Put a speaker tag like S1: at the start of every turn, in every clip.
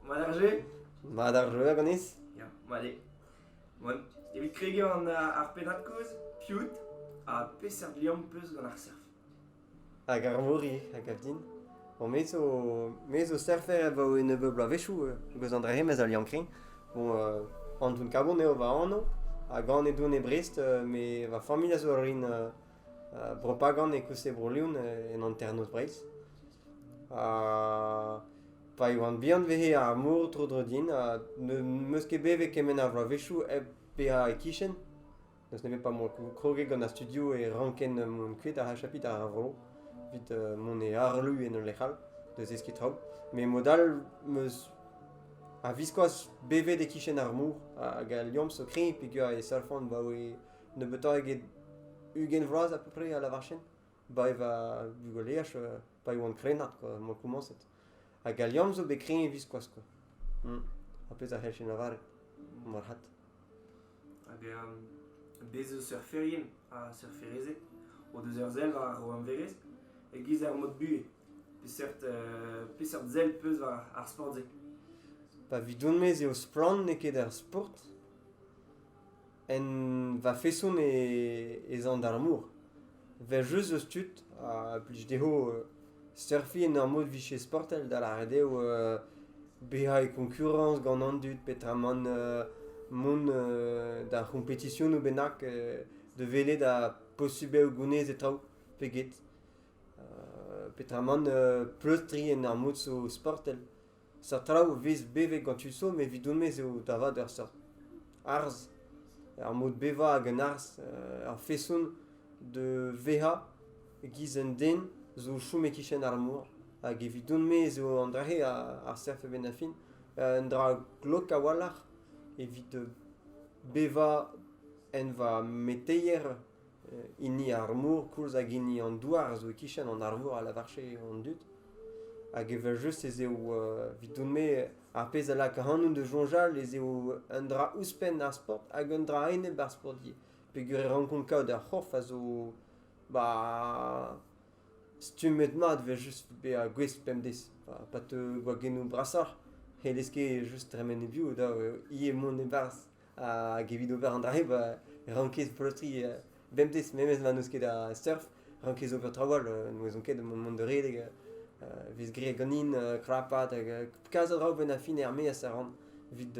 S1: Mat ar jeu Mat ar
S2: jeu ganis Ya, male.
S1: Bon, evit kregiñ an, uh, ar pennad kozh, Piut, ha peseurt liamm peus gant ar surf Hag
S2: Arvori, a gav din Bon, me zo, me zo surfer edo e nebeud bloavezhioù, euh, beus an dra-se, mes al liañ-krin. Bon, euh, Antoun Kabon eo va anv, hag an e Doune Brest, euh, me, va familh a zo rin euh, Brepagand e koulz e Bro-Leon en hanternoz Breizh. pa e oan bihan vehe ar mor tro-dro din ha n'em eus ket bet evit kement a vloavezhioù hep bezañ e-kichen. N'eus nemet pa m'on kroget gant ar studio e ranken mont kuit ha chapiñ ar vro evit mont e harlu en ul lec'h all da zeskiñ traoù. Met mod all em eus a-viskoazh bevet e-kichen ar mor hag al liamm zo kreñv peogwir e savfan 'baoe nebeutoc'h eget ugent vloaz à peu près a la varchen, ba e va bugaleaj euh, pa e oan krennard kwa, m'oa komañset. Hag al liamm zo bet kreñv e-viskoazh kwa. Hmm. Ar pezh a c'hellfe lavaret, marc'had. Hag
S1: um, bez eus surferien ha surferezed o deus ur sell war o amverez e-giz ar mod buhez. Peseurt, euh, peseurt sell peus war ar sport-se? Pa
S2: vidon-me ez eo splann n'eo ket ar sport, en va feson ez an d'ar mor. Vel jeuz eus tud a blij dezho surfiñ en ur mod vicher sportel, da lâret eo bezañ e koñkurañs gant an dud peotramant mont d'ar c'hompetisionoù bennak da welet ha posubl eo gounez e traoù pe get. Peotramant pleustriñ en ur mod zo sportel. Seurt traoù a vez bevet gant tud somm evidon-me eo da vat ur seurt arz, ar mod bevañ hag an arz, ar feson da vezañ e-giz un den zo o chom e-kichen ar mor hag evidon-me ez eo an dra-se ar seurt a-benn ar fin, un dra glok a-walc'h evit bevañ en va meteier hini ar mor koulz hag hini an douar a zo e-kichen an arvor a lavarche an dud. Hag evel-just ez eo, evidon-me, ar pezh a lak ac'hanout da soñjal ez eo un dra ouzhpenn ar sport hag un dra a-enep ar sport ivez. Peogwir e rankont kaout ar c'horf a zo ba stummet-mat evel-just bezañ gouest bemdez, pa teu gwagennoù brasoc'h, n'hellez ket just tremen e-biou dav eo ivez mont e-barzh. Hag evit ober an dra-se ba rankez pleustriñ bemdez, memes ma n'eus ket a surf, rankez ober trawal, n'ouezon ket, mont da redek, e vez graet ganin krapat, hag kas a draoù benn ar fin er-maez a ran evit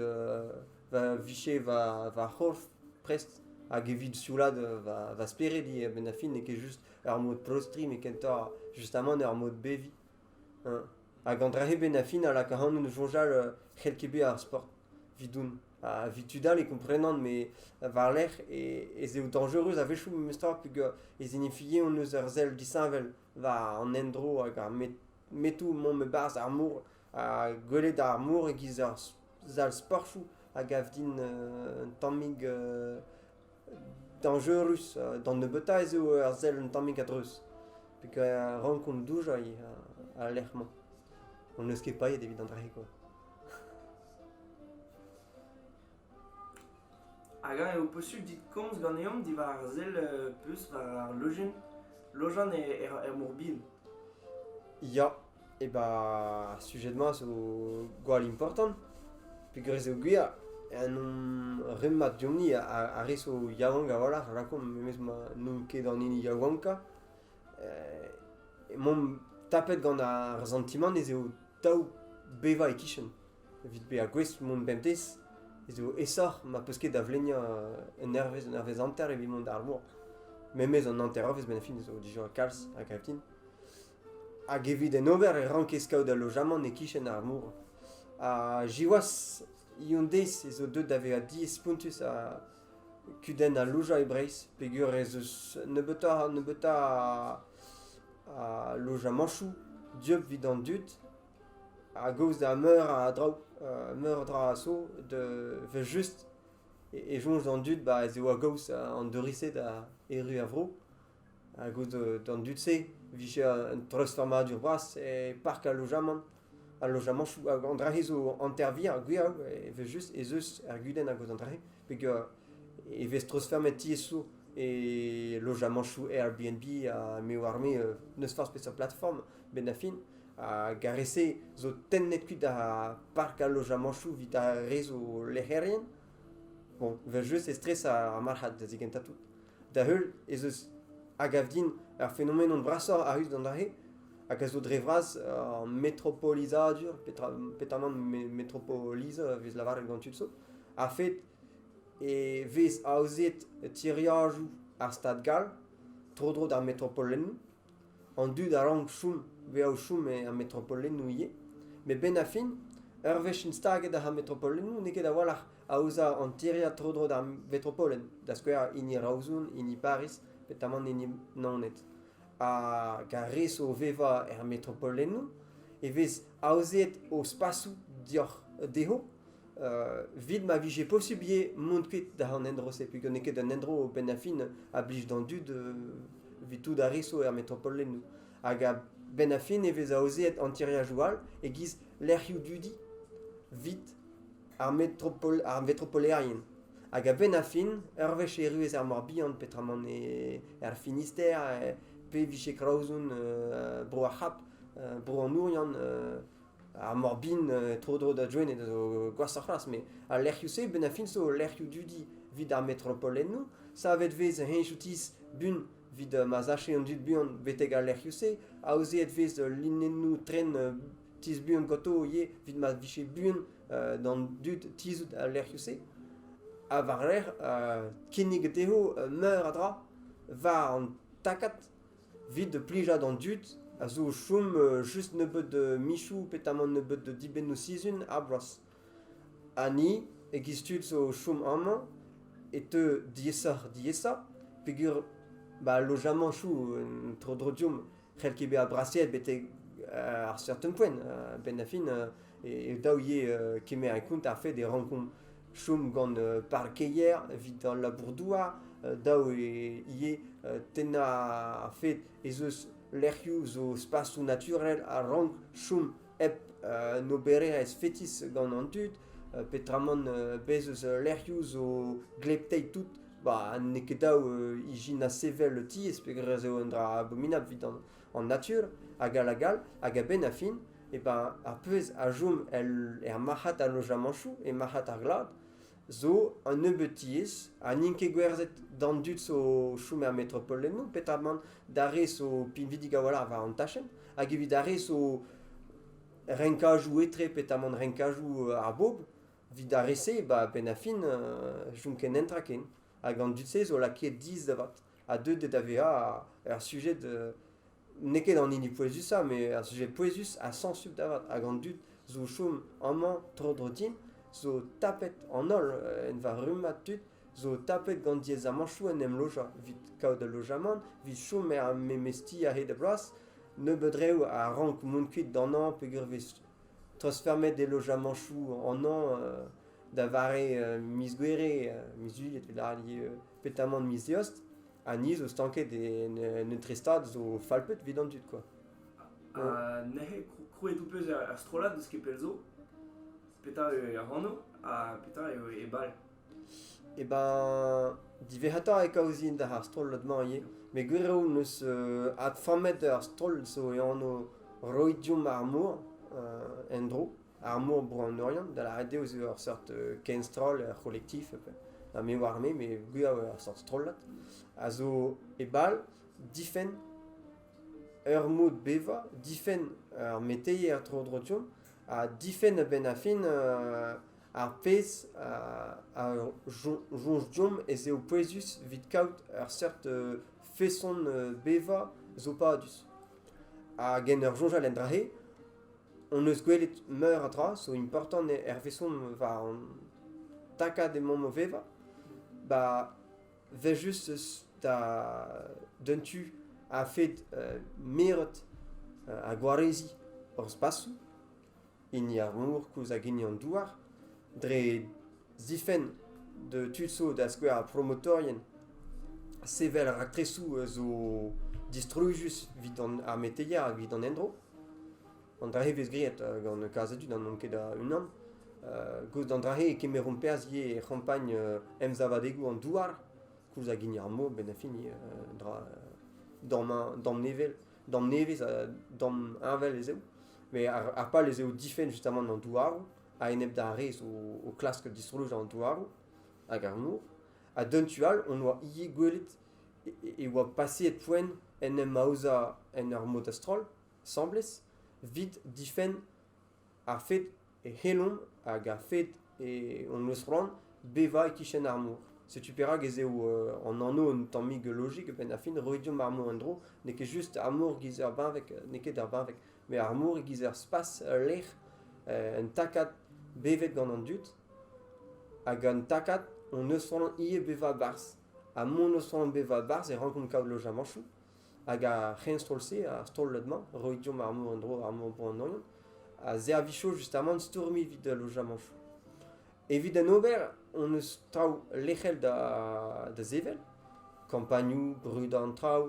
S2: va vicher va va c'horf prest, hag evit sioulaat va va spered ivez, benn ar fin n'eo ket just ur mod pleustriñ, met kentoc'h justamant ur mod beviñ. Hag an dra-se benn ar fin a laka ac'hanout da soñjal c'hell ket bezañ ar sport evidoun. Ha evit tud all e komprenan met war-lerc'h ez eo dañjerus a-wechoù memestra peger ez enefie hon eus ur sell disheñvel war an endro hag ar metoù mont e-barzh ar mor. Ha gwelet ar mor e-giz ur sal sportoù a gav din un tammig Dañjerus. D'an nebeutañ ez eo ar sell un tammig a-dreuz peger rankomp doujañ al lec'h-mañ. Hon eus ket paeet evit an dra-se kwa.
S1: Hag eñ eo posubl dit komz ganeomp diwar ar sell peus war ar lojenn lojan er, er Mor-Bihan?
S2: Ya, E ba ar sujed-mañ a zo gwall important peogwir ez eo gwir en hon rummad deomp-ni a rez o yaouank a-walc'h a lakaomp memes ma n'on ket an hini yaouankañ emaomp tapet gant ar santimant ez eo dav bevañ e-kichen evit bezañ gouest mont bemdez ez eo aesoc'h ma peus ket da vleniañ un hervez un hervez hanter evit mont d'ar mor memes an hanternoz benn ar fin ez eo dija kalz a gav din Hag evit en ober e rankez kaout al lojamant e-kichen ar mor. Ha siwazh, hon-deiz ez eo deuet da vezañ diaes-spontus ha kudenn al lojañ e Breizh peger ez eus nebeutoc'h nebeutañ a lojamañchoù dieub evit an dud a-gaoz da meur a draoù, meur a dra a so evel-just e soñj an dud ez eo a-gaoz an douristed a erru er vro. Ha gouzout d'an dud-se e vije un treuzfammadur bras e park al lojamant. Al lojamantoù, an dra-se zo hanter-vir ha gwir evel-just ez eus er gudenn hag an dra-se peger e vez treuzfemmet tiez-so e lojamantoù Airbnb ha me oar-me n'eus forzh peseurt platform benn ar fin. Hag ar re-se zo tennet kuit da park al lojamantoù evit ar re zo lec'herien. Bon, evel-just e stres ar marc'had da zigentañ tout. Da-heul ez eus a gav din ar fenomenon brasoc'h a ruz d'an dra-se hag a zo dre vras ur metropolizadur petra petamant me- metropolisa a vez lavaret gant tud zo a-fed e vez aozet tiriadoù ar stad gall tro-dro d'ar metropolennoù An dud a rank chom bezañ o chom er metropolennoù ivez met 'benn ar fin ur wech int staget ar metropolennoù n'eo ket a-walc'h aozañ an tiriad tro-dro d'ar metropolen da skouer hini Raouzon, hini Pariz petamant hini Naoned. Hag ar re zo o vevañ er metropolennoù e vez aozet o spasoù deoc'h dezho Evit ma vije posiblier mont kuit da an endro-se, peogwir n'eo ket un endro benn ar fin a blij d'an dud evit tout ar re zo er metropolennoù. Hag a-benn ar fin e vez aozeet an tiriadoù all e-giz lec'hioù dudi evit ar, metropol, ar metropolerien. Hag a-benn ar fin, ur wech erru ez ar Mor-Bihan peotramant er Finisterre, pe e vije Kraozon bro ar C'hap, bro an Ouriant, Ar Morbin tro-dro da Gwened a zo gwashoc'h c'hoazh met al lec'hioù-se benn ar fin zo lec'hioù dudi evit ar metropolennoù. Savet 'vez heñ outis bun evit ma sache an dud buan betek al lec'hioù-se. Aozeet 'vez linennoù tren tizh buan ganto ivez evit ma vije buan d'an dud tizhout al lec'hioù-se. Ha war-lerc'h kinnig dezho meur a dra war an takad. 'Vit plijañ d'an dud a zo o chom just nebeut michoù petamant nebeut dibennoù-sizhun ar bloaz. Ha ni, e-giz tud zo o chom amañ, e teu diaesoc'h-diaesañ peogwir ba al lojamanchoù tro-dro deomp c'hell ket bezañ brasaet betek ar certain point. A-benn ar fin e dav ivez kemer en kont ar fait e rankomp chom gant parkeier evit al labour-douar, dav eo ivez tennañ a-fet ez eus lec'hioù zo spasoù naturel a rank chom hep un obererezh fetis gant an dud, petramant bez' eus lec'hioù zo glepteit tout ba n'eo ket dav ijinañ sevel tiez peogwir ez eo un dra abominabl evit an natur hag all hag all hag a-benn ar fin ar pezh a chom er marc'had a lojamanchoù, e marc'had ar glad, zo un nebeud tiez ha n'int ket gwerzhet d'an dud zo o chom er metropol eno, petamant d'ar re zo pinvidik a-walc'h war an tachenn hag evit ar re zo renkajoù etre petamant renkajoù ar bobl, evit ar re-se, ba penn-ar-fin chom ken netra ken hag an dud-se zo lakaet dizh da vat ha deuet da vezañ ur sujed n'eo ket an hini pouezusañ, mais ar sujet pouezus ha sensubl da vat. Hag an dud zo o chom amañ tro-dro din, zo tapet an holl en va rummad tud, zo tapet gant diaezamantoù en em lojañ evit kaout ul lojamant, evit chom er memes ti a-hed ar bloaz, nebeut reoù a rank mont kuit d'anañ peogwir e vez treuzfeurmet e lojamantoù anañ da vare miz Gouere, miz Juilh, e lâr petamant miz Eost. Ha ni zo stanket en un trestad zo falpet evit an dud quoi. Ha
S1: neuze krouet ou peus ar strollad eus kepel zo petra eo ar hano ha petra eo e bal E
S2: ben diverrata e kaouzin d'ar strollad-mañ ivez met gwir eo neus euh, adframmet ar stroll zo e anv roidium ar mor euh, en-dro Ar mor Bro an Oriant, da lâret eo, zo ur seurt euh, kenstroll, ur c'holektif, ha me oar me, mais gwir ur seurt strollad, a zo e bal difenn ur mod bevañ, difenn ur meteier tro-dro deomp, ha difenn a-benn ar fin euh, ar pezh a, soñj deomp ez eo pouezus evit kaout ur seurt euh, feson bevañ zo padus. Hag en ur soñjal en dra-se, hon eus gwelet meur a dra zo important hervezon war hon takad emaomp o vevañ. Ba, vel just eus da d'un tu a-fed euh, miret euh, ha gwareziñ hor spasoù, hini ar mor koulz hag hini an douar, dre Zifenn da tud zo da skouer ar promotorien sevel raktresoù zo distrujus evit ar meteier hag evit an endro. An dra-se vez graet gant kalz a dud ha n'on ket a-unan. Goust d'an dra-se e kemeromp perzh ivez e c'hampagn emsavadegoù an douar koulz hag hini ar mor benn ar fin, dra damm nevel, damm nevez ha damm heñvel ez eo. Met ar pal ez eo difenn justamant an douaroù. a-enep d'ar re zo o klask distoloñ an douaroù hag ar mor. Ha d'un tu all, hon oa ivez gwelet e oa paseet poent en em aozañ en ur mod a-stroll, asambles, evit difenn ar fed e c'hellomp hag ar fed e hon eus c'hoant bevañ e-kichen ar mor. Setu perak ez eo an anv un tammig lojik a-benn ar fin, roiñ deomp ar mor en-dro. N'eo ket just ar mor giz ur benveg, n'eo ket ur benveg. Met ar mor e-giz ur spas, ul lec'h, un takad bevet gant an dud. Hag an takad hon eus c'hoant ivez bevañ barzh. Ha mont eus c'hoant bevañ barzh e rankomp kaout lojamanchoù. Hag ar c'henstroll-se, ar strollad-mañ, roit deomp ar mor en-dro, ar mor bro an Oriant, a servijo justamant stourmiñ evit al lojamanchoù. Evit en ober hon eus traoù lec'hel da, da sevel, kampagnoù, brudañ an traoù,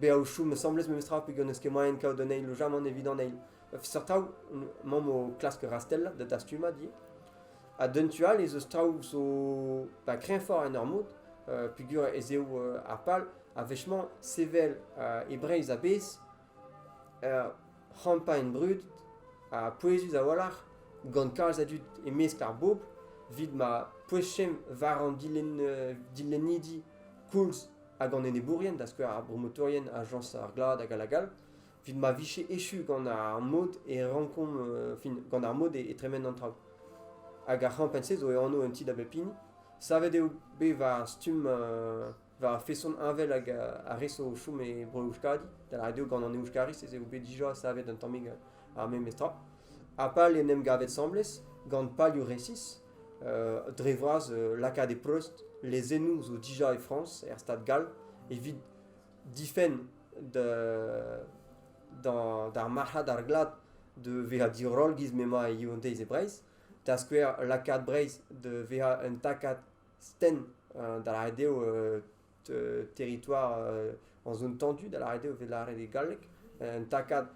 S2: bezañ o chom asambles memestra peogwir n'eus ket moaien kaout an eil ojamant evit an eil. Seurt traoù, mamm o klask rastell da dastumad ivez. Ha d'un tu all ez eus traoù zo pa kreñvoc'h en ur mod, uh, peogwir ez eo uh, ar pal, a wechemañ sevel uh, e Breizh a-bezh uh, c'hampagne brud ha pouezus a-walc'h gant kalz a dud e-mesk ar bobl evit ma pouezhchem war an dilenn, uh, dilennidi koulz hag an enebourien, da skouer ar bromotorien, ajañs ar glad hag all evit ma vije echu gant ar mod e rankomp, euh, fin, gant ar mod e, tremen an traoù. Hag ar c'hampenn-se zo e anv un ti da bep hini. Savet eo bet war stumm, euh, war feson heñvel hag ar re zo o chom e bro Euskadi. Da lâret eo gant an Euskariz ez eo bet dija savet un tammig ar memes tra. Ha pal en em gavet 'sambles gant palioù resis, dre vras lakaat e-preust lezennoù zo dija e Frañs, er Stad gall, evit difenn d'ar marc'had ar glad da vezañ diroll giz m'emañ Yaoundez e Breizh, da skouer lakaat Breizh da vezañ un takad stenn da ret eo territoire en zone tendue, da lâret eo, evit lâret e galleg, un takad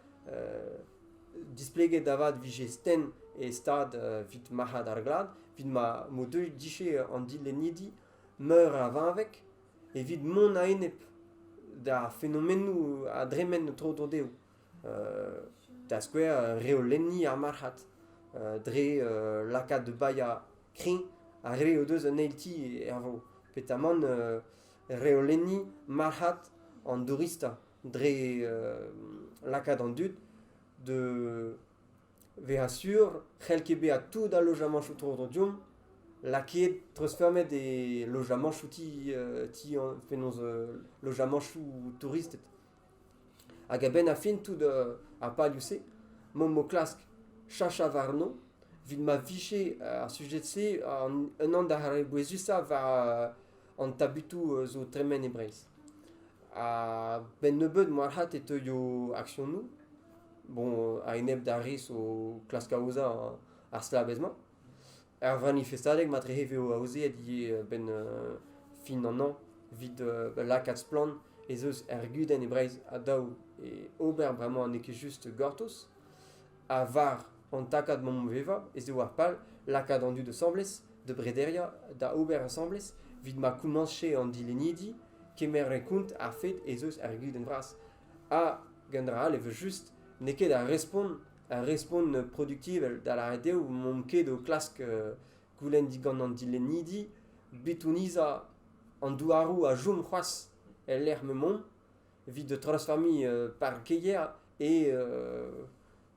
S2: displeget da vat vije sten e stad vit marc'had ar glad, vit ma m'o deuit dije an dilennidi meur a vinveg evit mont a-enep d'ar fenomennoù a dremen tro-dro dezho. da skouer reolenniñ ar marc'had dre lakaat da baeañ kreñv ar re o deus un eil ti er vro petamant reolenniñ marc'had an douristañ dre lakaat an dud da vezañ sur c'hell ket bezañ tout al lojamañchoù tro-dro deomp lakaet treuzfeurmet e lojamanchoù ti penaos lojamanchoù touristed Hag a-benn ar fin tout ar palioù-se m'omp o klask cheñchañ warno evit ma vije ar sujed-se unan d'ar re bouezusañ war an tabutoù zo o tremen e Breizh. A-benn nebeut moalc'had e teuio aksionoù bon a-enep d'ar re zo o klask aozañ ar stlabez-mañ. Ar vanifestadeg matrehe eo aozeet ivez a-benn fin an hañv evit lakaat splann ez eus er gudenn e Breizh ha dav eo ober bremañ n'eo ket just gortoz. Ha war an takad mamm-vevañ ez eo ar pal lakaat an dud asambles da brederiañ, da ober asambles evit ma komañse an dilennidi kemer en kont ar fed ez eus er gudenn vras. Ha, gant dra all, evel-just, n'eo ket ar respont ar respont produktivel, da lâret eo mont ket o klask goulenn digant an dilennidi bitonizañ an douaroù a chom c'hoazh el lec'h m'emaomp evit treuzfamiñ parkeier e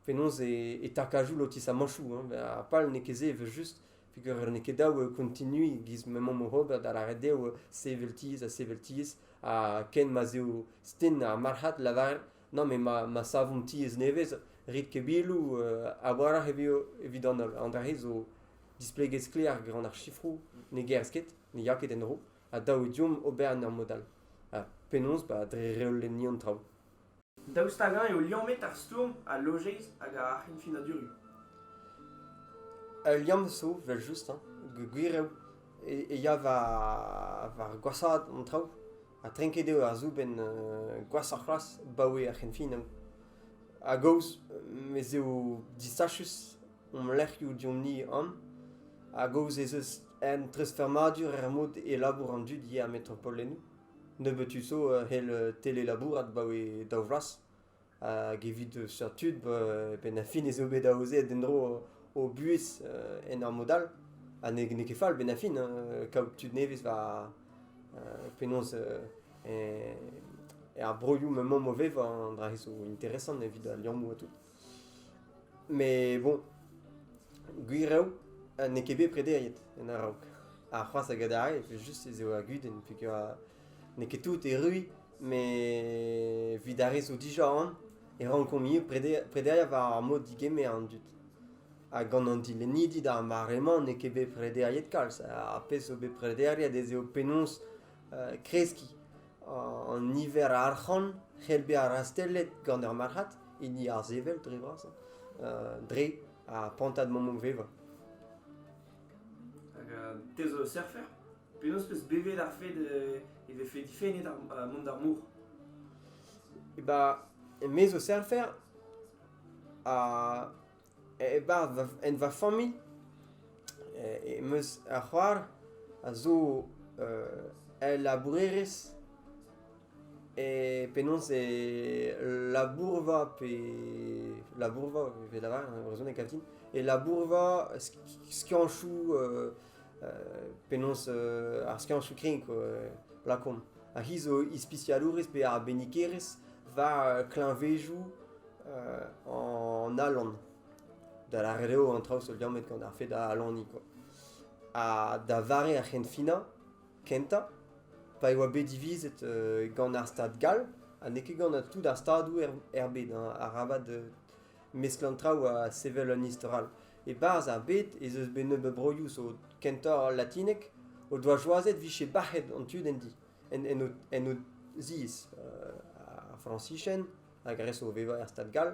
S2: penaos e takajoù lotisamanchoù. Ha pal n'eo ket se evel-just peogwir n'eo ket dav continuiñ e-giz m'emaomp oc'h ober, da lâret eo sevel tizh ha sevel tizh ha ken ma'z eo sten ar marc'had lavaret Non, mais ma, ma savomp tiez nevez, rit ket biloù, euh, a-walc'h e veo evit an holl. An dra-se zo displeget sklaer gant ar sifroù ne gerzh ket, ne ya ket en-dro, ha dav eo deomp ober en ur mod all. Ha penaos ba, dre reolenniñ an traoù. Daoust hag-eñ
S1: eo liammet ar stourm, al lojeiz hag ar c'henfinadurioù? Ul
S2: liamm zo, vel just, hein, gwir eo, e, e ya war, war gwashaat an traoù. Ha trenket eo ar soubenn gwashoc'h c'hoazh baoe ar c'henfinañ. A-gaoz ez eo disachus hom lec'hioù deomp-ni an, a-gaoz ez eus un treuzfurmadur er mod e labour an dud ivez er metropolennoù. Nebeut-tu zo hell telelabourat baoe daou vloaz. Hag evit seurt tud, e-penn ar fin ez eo bet aozet en-dro o buhez en ur mod all. Ha n'eo ket fall, 'benn ar fin, kaout tud nevez war penaos er broioù m'emañ mauvais, an dra-se zo interesant evit al liammoù ha tout. Met bon, gwir eo, n'eo ket bet prederiet en a-raok. Ha c'hoazh a gadarre, evel-just ez eo ar gudenn peogwir N'eo ket tout erruiñ, met evit ar re zo dija on e rankomp ivez prederiañ war ar mod digemer an dud. Ha gant an dilennidi d'ar mare-mañ n'eo ket bet prederiet kalz. Ar pezh zo bet prederiet ez eo penaos kreskiñ an niver a arc'hant c'hell bezañ rastellet gant ur marc'had, hini ar sevel dre vras, dre ar prantad mammoù-vevañ. Hag
S1: te zo surfer? Penaos 'peus bevet ar fed e vefe difennet mont d'ar mor?
S2: E ba, me zo serfer ha e ba en va familh em eus ar c'hoar a zo el labourerez e penaos e labourva pe labourva, e brezhoneg kal din, e labourva skianchoù penaos ar skiantoù-krenk lakaomp. Ar c'hiz zo ispisialourezh pe arbennikerezh war kleñvezoù an alan. Da lâret eo an traoù zo liammet gant ar fed alaniñ kwa. Ha da vare ar c'henfinañ kentañ, pa e oa bet divizet gant ar stad gall ha n'eo ket gant tout ar stadoù er bed arabat mesk an traoù ha sevel un istor all. E-barzh ar bed ez eus bet nebeut broioù zo kentoc'h latinek o doa choazet vije bac'het an tu d'en di, en, en, o, en o ziez. Uh, ar Frañsichenn hag ar re zo o vevañ er stad gall,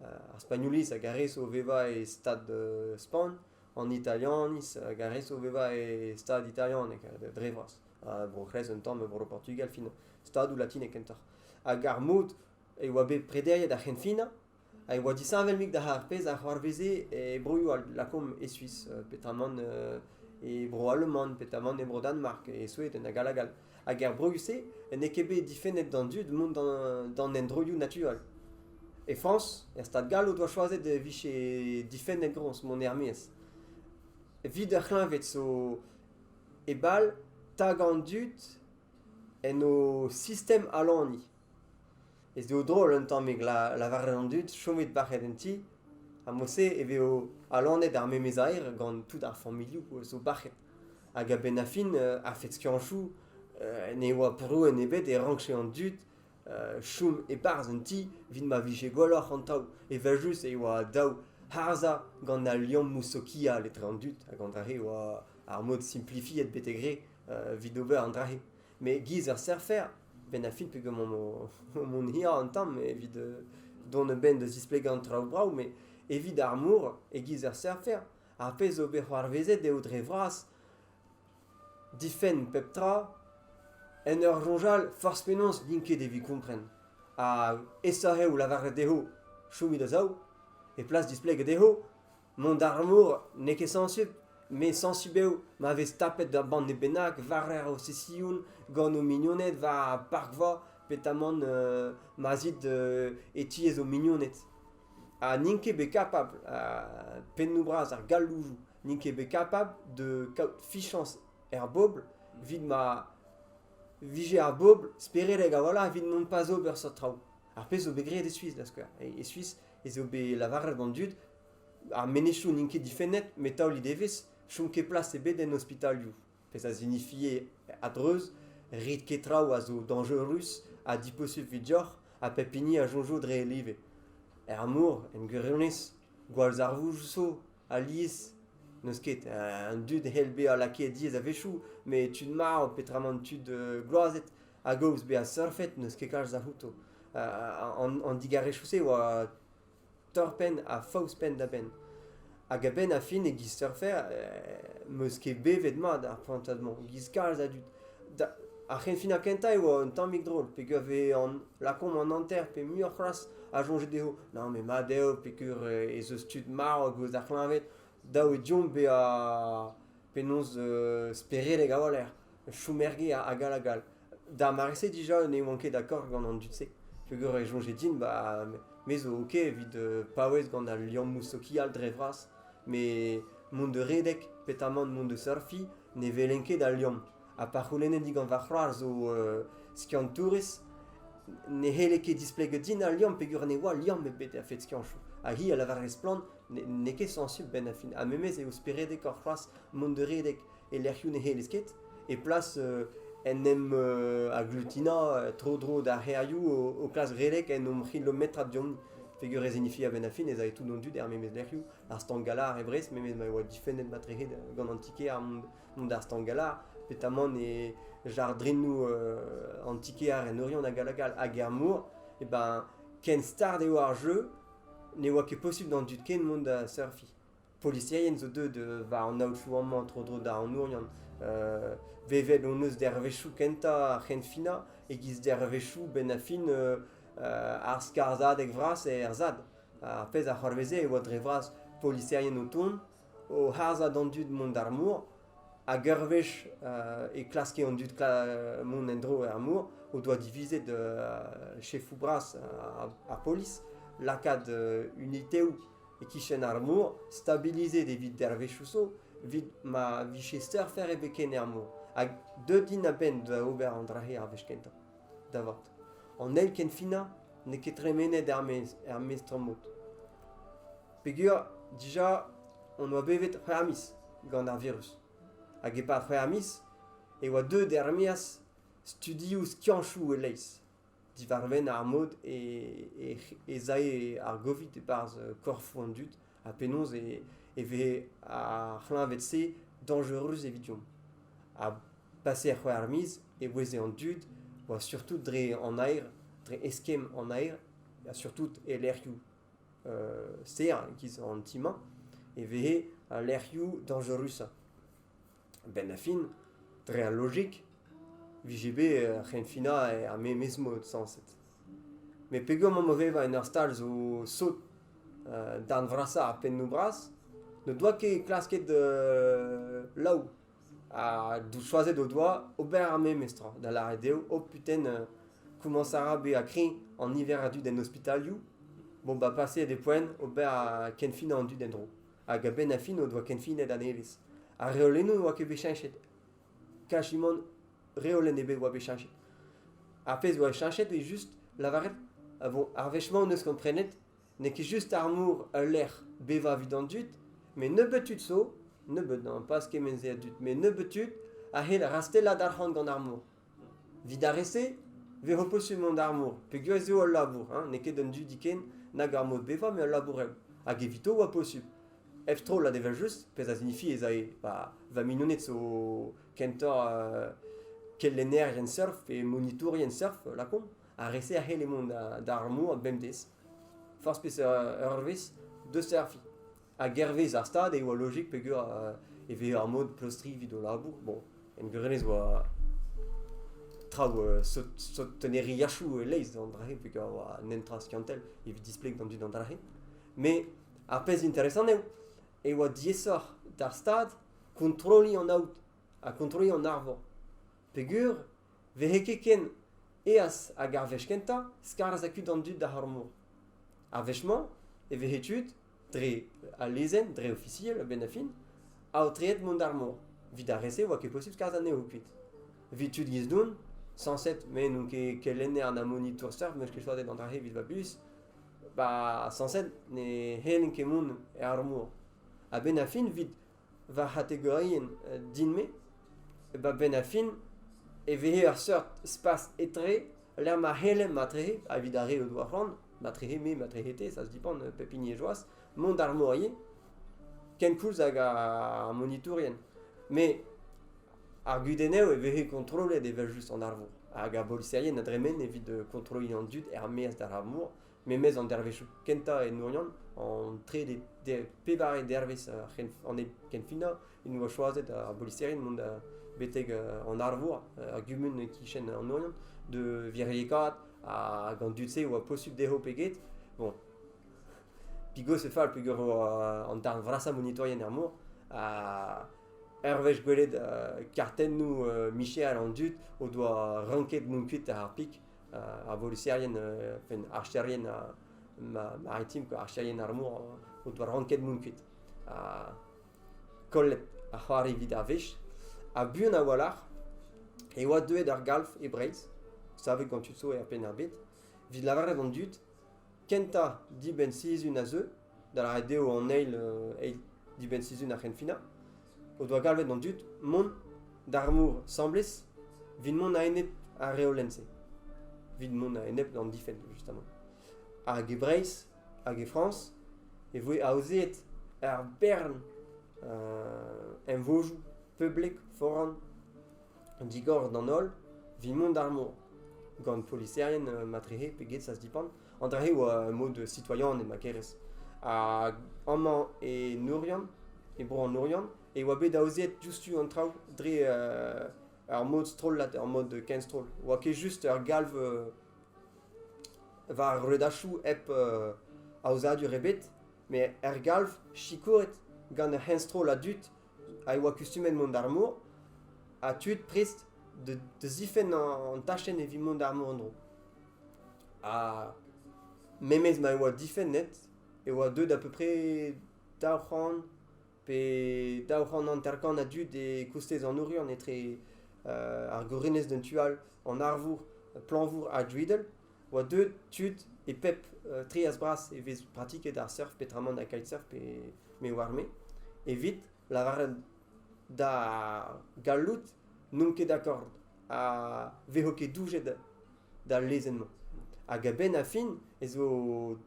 S2: uh, ar Spagnoliz hag ar re zo o vevañ e stad uh, Spagn, an Italianiz hag ar re zo o vevañ e stad italianek, dre vras. Uh, bro-C'hres un tamm, bro-Portugal, fin stadoù latinek kentoc'h. Hag ar mod e oa bet prederiet ar c'henfinañ ha e oa disheñvel-mik d'ar pezh a c'hoarveze e broioù all lakaomp e Suis petamant e bro Aleman petamant e bro Danmark e Sueden hag all hag all hag er broioù-se n'eo ket bet difennet d'an dud mont d'an endroioù naturel. E Frañs, er stad gall o doa choazet e vije difennet groñs mont er-maez. Evit ur c'hleñved zo e bal tagañ an dud en o sistem alaniñ. ez eo drol un tamm e lavaret an dud chomit bac'het en ti ha mod-se e vezo alonet ar memes aer gant tout ar familhoù zo bac'het hag a-benn ar fin a-fet skiantoù ne oa prouenn ebet e rankfe an dud chom e-barzh un ti evit ma vije gwelloc'h an taol evel-just e oa dav harzhañ gant al liammoù sokial etre an dud hag an dra-se e oa ar mod simplifiet betek re evit ober an dra-se Met giz ur surfer, benn ar fin pegeomp mont hirañ an tamm evit dont a-benn da zisplegañ an traoù brav, met evit ar mor, e-giz ur surfer, ar pezh zo bet c'hoarvezet eo dre vras difenn pep tra en ur soñjal forzh penaos n'int ket evit kompren. Ha aesoc'h eo lavaret dezho chomit a-sav, e plas displegañ dezho Mont d'ar mor n'eo ket sañsubl, met sañsubl eo ma vez tapet ur banne bennak war arosesioun gant ho mignoned war ar parkva petamant ma 'z it e tiez ho mignoned. Ha n'int ket bet kapabl, pennoù-bras ar galloudoù n'int ket bet kapabl da kaout fichañs er bobl evit ma vije ar bobl speredek a-walc'h evit mont pas ober seurt traoù. Ar pezh zo bet graet e Suis, da skouer. E, Suis ez eo bet lavaret gant dud ar menezioù n'int ket difennet, met taolit evezh, chom ket plas ebet en ospitalioù. Pezh a zinifie a-dreuz rit ket traoù a zo dañjerus ha diposubl evit deoc'h ha pep hini a soñjo dre e live. Er mor, en gwirionez, gwallzarvoud zo alies n'eus ket. Un dud hell bezañ lakaet diaes a-wechoù, met tud marv, petramant tud gloazet, a-gaoz bezañ surfet n'eus ket kalz a-c'houto. an digarezioù-se e oa torr-penn ha faos penn-da-benn. Hag a-benn ar fin e-giz surfer, eh, meus ket bevet mat ar prantad-mañ, e-giz kalz a dud. Ar c'henfinañ kentañ e oa un tammig drol, peger vez an lakaomp an hanter pe muioc'h c'hoazh a soñje dezho non mais mat eo peger eh, ez eus tud marv a-gaoz d'ar c'hleñved, dav eo deomp bezañ penaos euh, speredek a-walc'h, chom er gêr hag all hag all. D'ar mare-se dija ne oan ket d'accord gant an dud-se, peogwir e soñje din, bah, me zo ok evit euh, paouez gant al liammoù sokial dre vras, met mont de redek petamant mont de surfiñ ne welen ket al liamm. Ha pa c'houlennen digant va c'hoar zo euh, skiantourez, ne c'helle ket displegañ din al liamm peogwir ne oa liamm ebet a-fet skianchoù. Ha hi a lavarez splann n'eo ket sañsubl benn ar fin. Ha memes eo speredekoc'h c'hoazh mont de redek e lec'hioù ne c'hellez ket, e plas en em agglutinañ tro-dro d'ar c'hêrioù o klask redek en o c'hilometrad deomp. Peger e signifie a-benn ar fin ez ae tout an dud er memes lec'hioù, ar Stangala e Brest, memes ma e oa difennet matrec'hed gant an ti-kêr mont d'ar Stangala, petamant e jardrinoù an ti-kêr en Oriant hag hag all, hag er mor, e ben ken start eo ar jeu ne oa ket posubl d'an dud ken mont da surfiñ. Poliserien zo deuet war an aotrou amañ tro-dro d'ar anourian. vevet hon eus dervezhioù kentañ ar c'henfinañ e-giz dervezhioù benn-ha-fin ar skarzhadeg vras er Sad. Ar pezh a c'hoarveze e oa dre vras poliserien o tont, o harzhañ d'an dud mont d'ar mor Hag ur wech e klaske an dud mont en-dro er mor o doa divizet chefoù bras ar polis lakaat uniteoù e-kichen ar mor, stabilizet evit dervezhioù zo, evit ma vije seurfer ebet ken er mor. Hag deut int a-benn da ober an dra-se ar wech kentañ, da vat. An eil ken finañ n'eo ket tremenet er-maez er mestr-mod. Peger dija hon oa bevet c'hwec'h miz gant ar virus. Hag e-pad c'hwec'h miz e oa deuet er-maez studioù skianchoù e-leizh diwar-benn ar mod e, e, ez ae ar Covid e-barzh korfoù an dud ha penaos e, e veze ar c'hleñved-se danjerus evidomp. Ha pasé c'hwec'h miz e oueze an dud oa surtout dre an aer, dre eskemm an aer, ha surtout e lec'hioù ster e-giz an ti-mañ e veze al lec'hioù dañjerusañ. A-benn ar fin, dre al lojik, vije bet ur c'henfinañ er memes mod sañset. Met peger emaomp o vevañ en ur stal zo sot, darn vrasañ ar pennoù bras, n'o doa ket klasket laou. ha choazet o doa ober ar memes tra, da lâret eo, oh putain, komañs a ra bezañ kreñv an niver a dud en ospitalioù, bon bah paseet e poent ober kenfinañ an dud en-dro. Hag a-benn ar fin o doa kenfinet a-nevez. Ar reolennoù ne oa ket bet cheñchet, kasimant reolenn ebet oa bet cheñchet. Ar pezh oa cheñchet eo just lavaret, bon, ar wech-mañ hon eus komprenet N'eo ket just ar mor ul lec'h bevañ evit an dud, met nebeut tud zo, nebeut n'amparzh kement-se a dud, met nebeut tud a c'hell rastellat arc'hant gant ar mor. Evit ar re-se eo ho peus mont d'ar mor peogwir ez eo ul labour, hein? n'eo ket un dudi ken nag ar mod bevañ met ul labourell. Hag evito e oa posubl. Hep strollad evel-just, pezh a signifie ez ae ba, va mignoned zo kentoc'h euh, kelennerien surf pe monitourien surf, lakaomp. Ar re-se a c'helle mont d'ar mor bemdez. forzh peseurt eurvezh deus serfiñ. Hag hervez ar stad e oa lojik peger e veze ar mod pleustriñ evit o labour. Bon, en gwirionez e oa traoù sot sot tenneriachoù e-leizh d'an dra-se peger a oa netra skiantel evit displeg d'an dud an dra-se. Met ar pezh interesant eo e oa diaesoc'h d'ar stad kontrolliñ an aod ha kontrolliñ an arvor peger Vehe ket ken eas hag ar wech kentañ skarzh ha kuit an dud d'ar mor. Ar wech-mañ e vehe tud, dre al lezenn dre ofisiel a-benn ar fin, aotreet mont d'ar mor. Evit ar re-se e oa ket posubl skarzh anezho kuit. Evit tud giz-doun, sañset me n'on ket kelenner na monitour seurt m'eus ket choatet an dra-se evit va buhez, ba sañset ne c'hellen ket mont er mor. A-benn ar fin evit va c'hategorienn din-me, ba benn ar fin e vehe ur seurt spas etre lec'h ma c'hellem matrehe evit ar re o doa c'hoant, matrehe me, matrehe te, ça se dépend pep hini e joaz, mont d'ar morien kenkoulz hag ar monitourien. Me ar gudenneù e vehe kontrollet evel just an arvor hag ar boliserien a dremen evit kontroliñ an dud er-maez d'ar mor Memes an dervezhioù kentañ en Oriant, an trede, pevare dervezh an kenfinañ, en doa choazet ar boliserien mont betek an Arvor, ar gumun e-kichen an Oriant, de viriekaat hag an dud-se a oa posubl dezho pe get. Bon, pigos e fall peger an darn vrasañ monitourien er mor. Ur wech gwelet kartennoù micher an dud o doa ranket mont kuit ar pik. ar voliserien, penn archerien maritim, archerien ar mor, o doa ranket mont kuit. Ha kollet ar c'hoar evit ar wech. Ha buan a-walc'h e oa deuet ar galv e Breizh, savet gant tud zo er penn ar bet, evit lavaret an dud, kentañ dibenn sizhun a zeu, da lâret eo an eil eil dibenn-sizhun ar c'henfinañ, o doa galvet an dud mont d'ar mor 'sambles 'vit mont a-enep ar reolenn-se. 'Vit mont a-enep d'an difenn, justement. Hag e Breizh hag e Frañs e voe aozeet ur bern emvojoù poblek foran digor d'an holl 'vit mont d'ar mor, gant poliserien matrehe pe get, ça se dépend. An dra-se oa mod citoyen e Makerez. Hag amañ e Nourian, e bro an Nourian, e oa bet aoziet diouzhtu an traoù dre uh, ar mod strollad, ar mod kenstroll. Oa ket just ur galv uh, war redachoù hep uh, aozadur ebet, met er galv sikouret gant ur c'henstroll a dud a oa kustumet mont d'ar mor, ha tud prest de, de zifenn an, an tachenn evit mont d'ar mor en-dro. Ha memes ma e oa difennet e oa deuet à peu près daou c'hant pe daou c'hant hanter-kant a dud e-kostez an Oriant etre euh, ar gorenez d'un tu all, an arvour, planvour ha Driedel, oa deuet tud e pep euh, trias-bras e vez pratiket ar surf petramant ha kitesurf pe me oar-me, evit lavaret da gallout n'omp ket d'accord ha vezo ket doujet d'al lezenn-mañ. Hag a-benn ar fin ez vo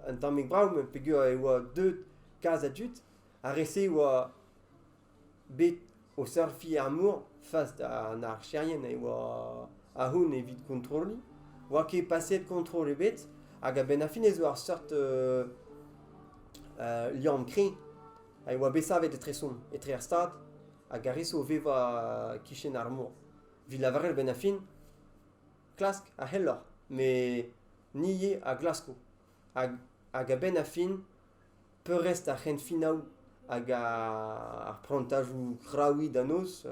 S2: un tammig brav peogwir e oa deuet kalz a dud. Ar re-se e oa bet o surfiñ ar mor fas d'an archerien e oa ahont evit kontrolliñ. Oa ket paseet kontrol ebet hag a-benn ar fin ez oa ur seurt uh, uh, liamm kreñv ha e oa bet savet etre-son, etre ar stad hag ar re-se o vevañ e-kichen ar mor. Evit lavaret a-benn ar fin, klask a c'helloc'h, met ni ivez a glasko. Hag, hag a-benn ar fin, peurrest ar c'henfinaoù hag ar prantajoù kraouiñ da noz,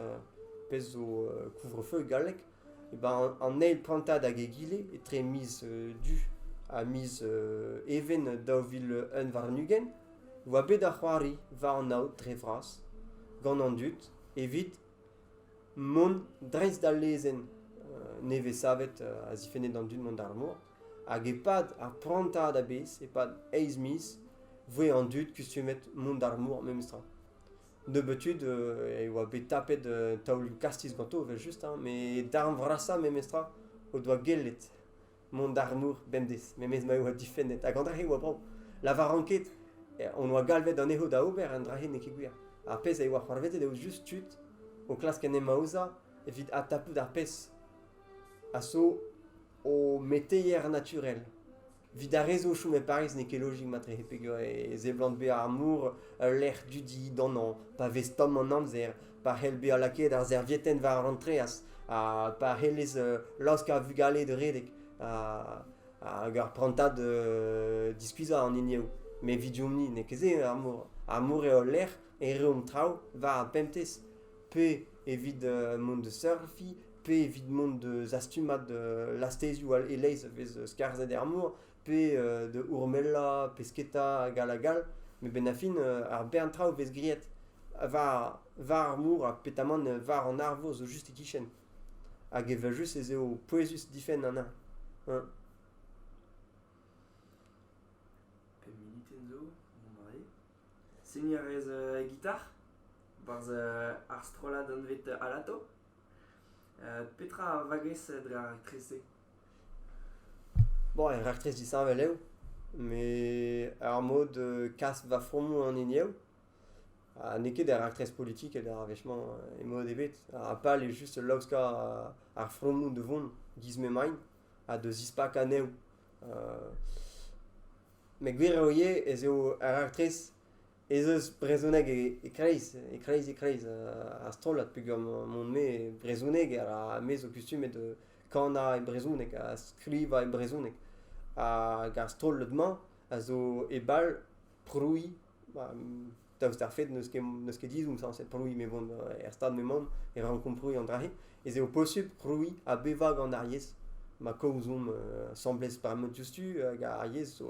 S2: pezh zo couvre-feu e galleg, e ben an eil prantad hag egile etre miz du ha miz even daou vil un warn-ugent, oa bet da c'hoari war an aod dre vras gant an dud evit mont dreist d'al lezenn nevez-savet a zifenne d'an dud mont d'ar mor. Hag e-pad ar prantad a-bezh, e-pad eizh miz, voe an dud kustumet mont d'ar mor memestra. Nebeutud e oa bet tapet taolioù kastiz ganto evel-just, hein, met darn vrasañ memestra o doa gellet mont d'arnour bemdez, memes ma eo difennet. Ha gant ar re oa brav. Lavaran ket, eh, on oa galvet anezho da ober, an dra-se n'eo ket gwir. Ar pezh a oa c'hoarvezet eo just tud o klask en em aozañ evit adtapout ar pezh a so o meteier naturel. Vit ar re zo o chom e Pariz n'eo ket logik matre peger e, e seblant bezañ ar mor ul lec'h dudi d'anañ pa vez tomm an amzer pa c'hell bezañ lakaet ar servietenn war an treñs ha pa c'hellez laosk ar vugale da redek hag ar prantad diskuizhañ an hiniv. Met evidomp-ni n'eo ket se ar mor. Ar mor eo al lec'h e reomp traoù war ar pemptez. Pe evit mont da surfiñ, pe evit mont da zastumad lastezioù e-leizh a vez skarzhet er mor. pe da Urmela, Pesketa hag all hag all. Met benn ar fin, ar bern traoù vez graet war, war ar mor ha petamant war an arvor zo just e-kichen. Hag evel just ez eo pouezus difenn an neñv. Hein.
S1: Pe minuten zo, mon mari. Segni a rez e gitar, barzh ar strollad anvet Alato. petra a vagez dre ar raktres-se
S2: Bon, ur raktres disheñvel eo, met ar mod kas va fromoù an hini eo. Ha n'eo ket ur raktres politikel ar wech-mañ e-mod ebet. Ha pal eo just laoskañ ar fromoù da vont giz m'emaint ha da zispakañ anezho. met gwir eo ivez ez eo ur raktres ez eus brezhoneg e-kreiz, e-kreiz, e-kreiz ar strollad peogwir mon-me brezhoneg ha me zo kustumet kanañ e brezhoneg ha skrivañ e brezhoneg. Hag ar strollad-mañ a zo e bal prouiñ, daoust d'ar fed n'eus ket n'eus ket dizhoù sañset prouiñ me vont er stad m'emaon e rankomp prouiñ an dra-se, ez eo posupl prouiñ ha bevañ gant ar yezh ma kaozomp asambles par mod diouzhtu hag ar yezh zo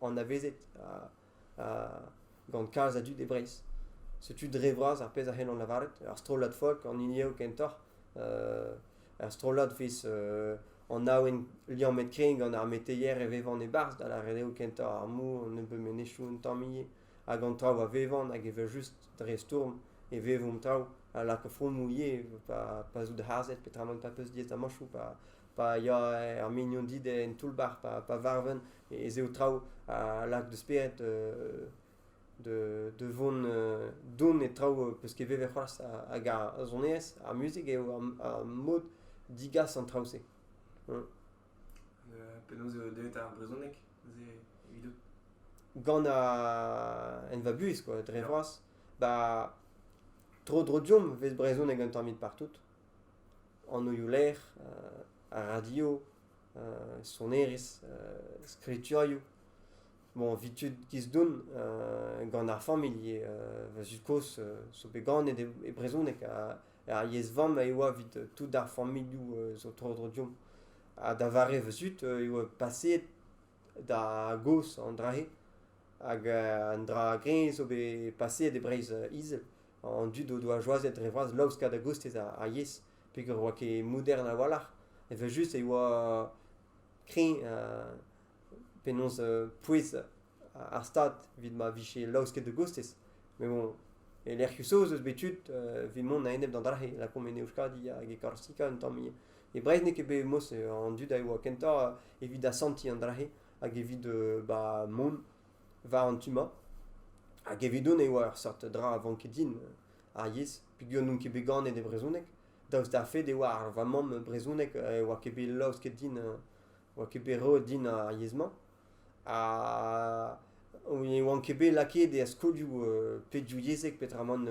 S2: anavezet gant kalz a dud e Breizh. Setu dre vras ar pezh a c'hellan lavaret. Ur strollad folk an hini eo kentoc'h. ur strollad fiz anaouen liammet krin gant ar meteier e vevan e-barzh, da lâret eo kentoc'h ar mou, an nebeud menezioù un tamm ivez, hag an traoù a vevan hag evel just dre stourm e vevomp traoù a lak fromoù ivez, pa, pa zout harzet petra man pa peus diaes da mañchoù, pa, pa ya er mignon dit en toull-bac'h, pa, pa varven ez eo traoù a lak da spered de, vont don e traoù peus ket vevet c'hoazh hag ar sonerezh, ar muzik eo ar mod digas an traoù-se. Hum.
S1: penaos eo deuet ar brezhoneg evidout Gant
S2: en va buhez quoi, dre vras. Ba tro dro diomp vez brezhoneg un tammig partout. Anoioù lec'h, a radio, sonerezh, skriturioù. Bon, evit tud Kisdoun, gant ar familh va zud-kozh zo bet ganet e, brezhoneg ar yezh-vamm a oa evit tout ar familhoù zo tro-dro deomp. Ha da vare va zud e oa paseet da gozh an dra-se. Hag un dra greñv zo bet paseet e Breizh-Izel. An dud o doa choazet dre vras laoskañ da gostez ar yezh. peger e oa ket modern a-walc'h, evel-just e oa kreñv penaos pouez ar Stad evit ma vije laosket da gostez. Met bon, e lec'hioù saoz eus bet tud evit mont a-enep d'an dra-se, lakaomp en Euskadi hag e Korsika un tamm. E Breizh n'eo ket bet mos an dud a oa kentoc'h evit asantiñ an dra-se hag evit ba mont war an tu-mañ. Hag evidon e oa ur seurt dra a vanke din. ar yezh peogwir n'on ket bet ganet e brezhoneg. Daoust d'ar fed e oa ar va mamm brezhoneg e oa ket bet laosket din, oa ket bet roet din ar yezh-mañ. Ha ne oan ket bet lakaet er skolioù pedioù-yezhek peotramant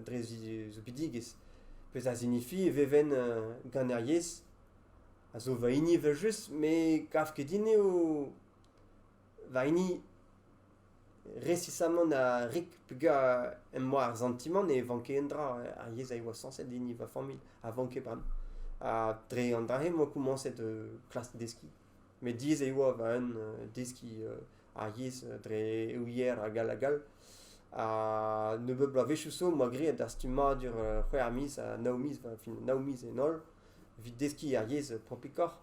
S2: dre soubidigezh. Pezh a signifie e veven gant ar yezh a zo va hini evel-just, me 'gav ket din eo va hini Resisamant ha rik pegañ em boa ar santimant ne vanke un dra. Ar yezh a yoa sañset din va familh a vanke bremañ. Ha dre an dra-se emañ komañset klask deskiñ. Met diaes e oa va eeun deskiñ ar yezh dre ouier hag all hag all. Ha nebeut bloavezhioù zo emañ graet ar stummadur c'hwec'h miz ha nav miz va fin, nav miz en holl evit deskiñ ar yezh propikoc'h.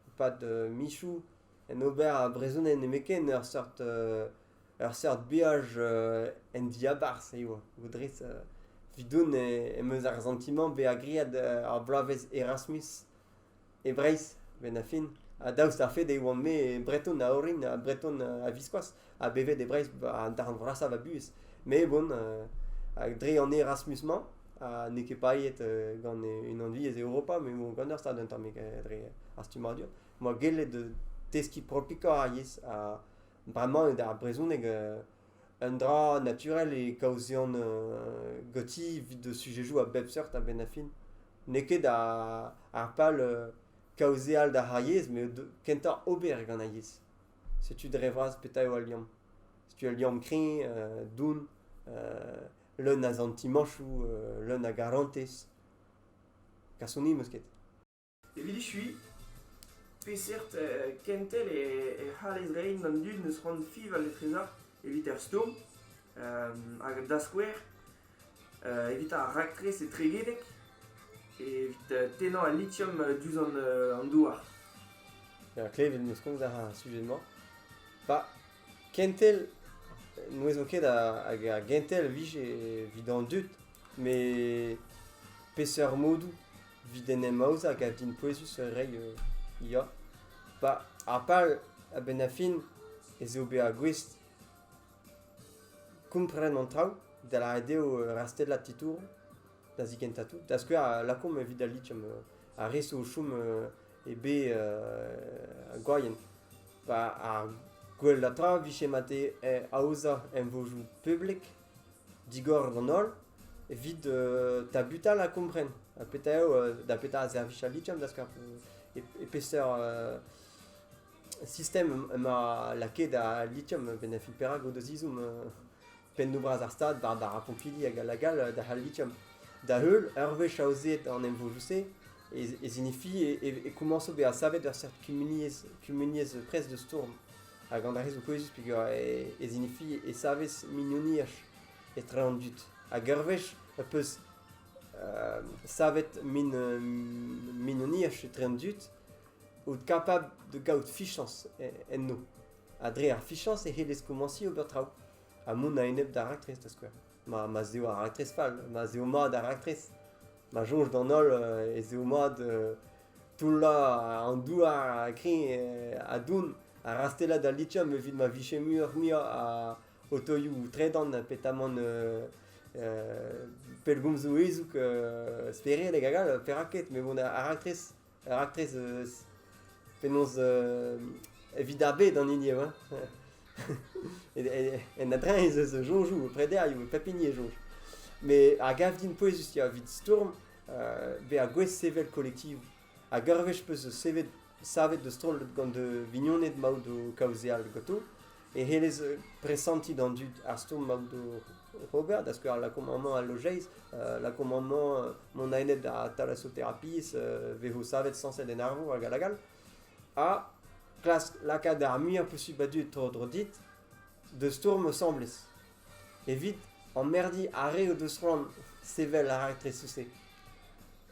S2: E-pad mizoù en ober ar brezhoneg nemetken ur seurt ur seurt beaj en diabarzh eo audrey vidon em eus ar santimant bezañ graet ar bloavezh erasmus e breizh benn ar fin ha daoust d'ar fed e oan-me breton a-orin ha breton a-viskoazh ha bevet e breizh an darn vrasañ va buhez met bon dre an erasmus-mañ ha n'eo ket paeet gant unan-viz Europa met bon gant ur stad un tammig dre ar stummadur 'moa gellet deskiñ propikañ ar yezh ha bremañ eo d'ar brezhoneg un dra naturel e kaozean ganti evit sujedoù a bep seurt a-benn ar fin. N'eo ket ar pal kaozeal d'ar yezh met kentañ ober gant ar yezh. Setu dre vras petra eo al liamm. Setu al liamm kreñv, don, leun a santimañsoù, leun a garantez. Kasoni 'm eus ket. Evit echuiñ,
S1: peseurt kentel e c'hallez reiñ d'an dud n'eus c'hoant fiñval etrezañ evit ar stourm hag da skouer evit ar raktres etregedek evit tennañ al litium diouzh an douar.
S2: Klevit 'm eus komz a ra ar sujed-mañ. Pas. Kentel n'ouezon ket hag ar gentel e vije evit an dud, met peseurt modoù evit en em aozañ a gav din pouezus reiñ ya. Ba ar pal a-benn ar fin ez eo bezañ gouest kompren an traoù da lâret eo rastellañ titouroù da zikentañ tout da skouer lakaomp evit al liamm ar re zo o chom eo bet uh, gwaien. Pa ar gwella tra vije mate aozañ emvojoù publik digor d'an holl evit uh, tabutal ha kompren. Ha petra eo, uh, da petra a servich a litjam, dask ar, e, e peseurt uh, sistem ma lakaet a litjam benafil perak o da zizoum uh, pennoù-bras ar Stad war ar pompilli hag all hag all da c'hall lithium. Da-heul, ur wech aozeet an emvodoù-se, ez hinifi e komañso bezañ savet ur seurt kumuniezh, kumuniezh pres da stourm. Hag an darezioù pouezus peger ez hinifi e savez mignoniaj etre an dud. Hag ur wech e peus euh, savet min, mignoniaj etre an dud out kapabl da gaout fichañs enno. Ha dre ar fichañs e c'hellez komañsiñ ober traoù ha mont a-enep d'ar raktres da skouer. Ma, ma 'z eo ar raktres fall, ma 'z eo mat ar raktres, ma soñj d'an holl euh, ez eo mat euh, toullañ an douar ha kreñv euh, ha doun ha rastelat al lithium evit ma vije muioc'h-muiañ a otoioù tredan petamant euh, euh, pellgomzoù ezoug euh, speredek hag all, perak ket, met bon, ar raktres Ur raktres eus penaos evit ar bed an hini eo. en a-dreñv ez eus soñjoù, prederioù, pep hini e soñj. Mais a gav din pouezus ya, evit stourm euh, bezañ gouest sevel kolektivoù. Hag ur wech peus sevet savet da stroll gant da vignoned maout o kaozeal ganto, e c'hellez presantiñ d'an dud ar stourm ma out ober, da skouer l'acommandement al lojeiz, l'acommandement mont a-enep da thalassothérapie vezo savet sañset en arvour hag hag all, ha klask lakaat ar muiañ posubl a dud tro-dro dit da stourm asambles. Evit emmerdiñ ar re o deus c'hoant sevel ar raktres-se.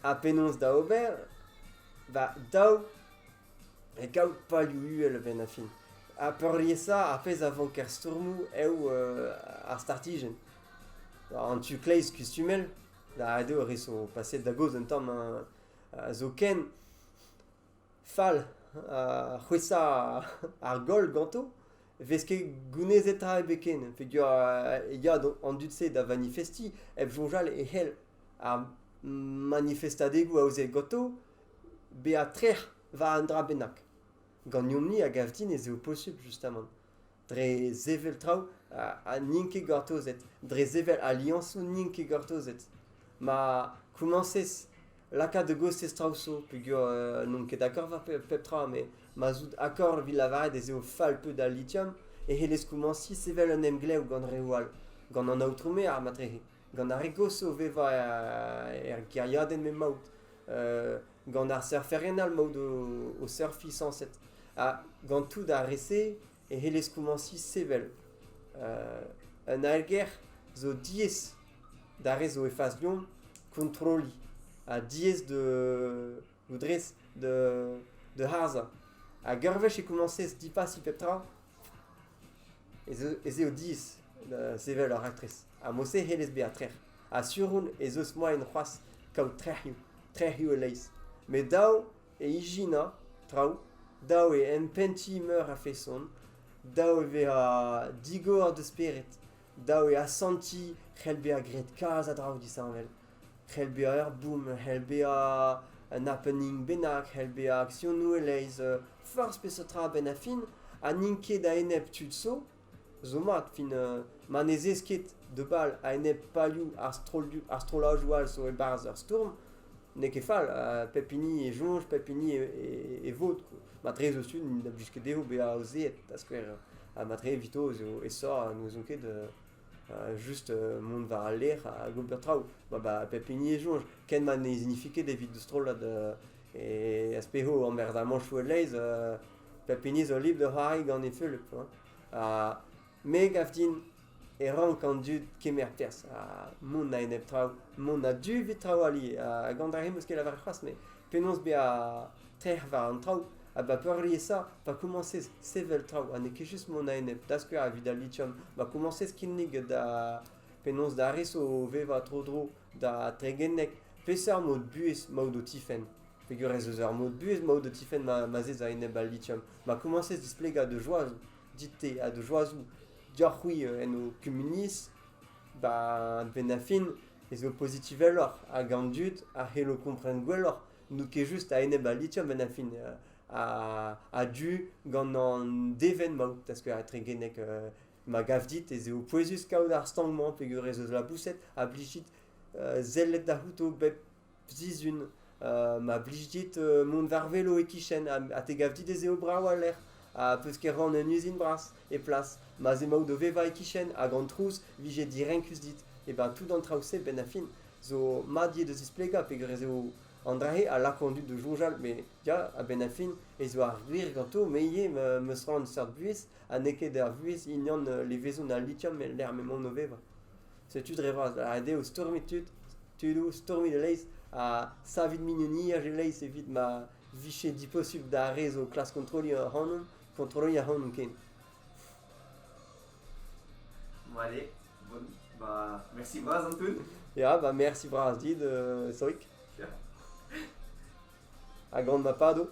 S2: Ha penaos da ober? Ba daou E kaout palioù uhel a-benn ar fin. Ha peurliesañ ar pezh a vanker stourmoù eo ar startijenn. An tu kleiz kustumel da ret eo res o paset da gaoz un tamm zoken fall c'hwezhañ ar goll ganto 'vez ket gounezet tra ebet ken peogwir e ya an dud-se da vanifestiñ hep soñjal e c'hell ar manifestadegoù aozaet ganto bezañ trec'h war un dra bennak. Ganeomp-ni a gav din ez eo posubl justamant dre sevel traoù ha n'int ket gortozet, dre sevel aliañsoù n'int ket gortozet. Ma komañsez lakaat da gostez traoù zo peogwir euh, n'on ket d'accord war pep tra, met ma zout akord evit lavaret ez eo fall peud al litium e c'hellez komañsiñ sevel un emglev gant reoù all, gant an aotrou maer ma trec'he. gant ar re gozh o vevañ er gêriadenn m'emaout, gant ar surferien all emaout o surfiñ sañset, ha gant tout ar re-se e c'hellez komañsiñ sevel. Un aergelc'h zo diaes d'ar re zo e fas deomp kontrolliñ ha diaes loudrez da, da harzhañ. Hag ur wech e komañsez dipassiñ pep tra, ez, ez eo diaes da sevel ur raktres. Ha mod-se hellez bezañ trec'h. Ha sur on ez eus moaien c'hoazh kaout trec'hioù, trec'hioù e-leizh. Met dav e ijinañ traoù, dav eo empentiñ meur a feson, dav e vezañ digor da spered, dav eo asantiñ c'hell bezañ graet kalz a draoù disheñvel. c'hell bezañ ur boom, c'hell bezañ un happening bennak, c'hell bezañ akzionoù e-leizh, forzh peseurt tra a-benn ar fin, ha n'int ket a-enep tud zo, zo mat fin ma ne zez ket da bal a-enep palioù ar strollioù ar strollajoù all zo e-barzh ur stourm, n'eo ket fall, pep hini e soñj, pep hini e vod, matre zo tud n'int da blij ket dezho bezañ aozeet da skouer, ha matre evito ez eo aesoc'h ha n'ouezont ket. just mont war al lec'h hag ober traoù. Ba, pep hini e soñj. Ken ma ne signifie ket evit strollad e aspeho an merzamanchoù e-leiz, pep hini zo libr da c'hoari gant e feulep. Ha me gav din e rank an dud kemer perzh ha mont a-enep traoù, mont a-du evit traoù ali. Ha gant ar re 'm eus ket lavaret c'hoazh, met penaos bezañ trec'h war an traoù ha ba peurliesañ pa komañsez sevel traoù ha n'eo ket just mont a-enep da skouer evit al lithium ma komañsez kinnig da penaos da res o vevañ tro-dro da Tregennek peseurt mod buhez maout o tifenn peger ez eus ur mod buhez maout o tifenn ma, ma zez a-enep al lithium ma komañsez displegañ da joazoù dit-te ha da joazoù dioc'h-c'hwi euh, en ho kumuniezh ba benn a fin ez eo pozitiveloc'h hag an dud a c'hello kompren gwelloc'h n'out ket just a-enep al lithium en fin a-du gant an devenn maout parce que etregenek ma gav dit ez eo pouezus kaout ar stank-mañ peger ez eus laboused a blij dit sellet da c'houto bep sizhun ma blij dit mont war velo e-kichen ha te gav dit ez eo brav al lec'h ha peus ket ran un uzin bras e plas ma 'z emaout o vevañ e-kichen hag an trouz 'vije direnkus dit e ben tout an traoù-se benn a fin zo mat ivez da zisplegañ peger ez eo an dra-se a lako an dud da soñjal met ya, a-benn ar fin ez eo ar gwir ganto me ivez m- 'meus c'hoant seurt buhez ha n'eo ket ar vuhez hinian euh, levezon al lithium e lec'h m'emaon o vevañ. Setu dre vras, ret eo stourmiñ tud, tudoù, stourmiñ e-leizh ha savit mignoniezh e-leizh evit ma vije diposubl d'ar re zo o klask kontrolliñ ac'hanon, kontrolliñ ac'hanon ken.
S3: Allez, bonne. Bah, merci bras, Antoun. Ya, bah merci
S2: bras dit, euh, Sorik. Yeah. A grande mapado.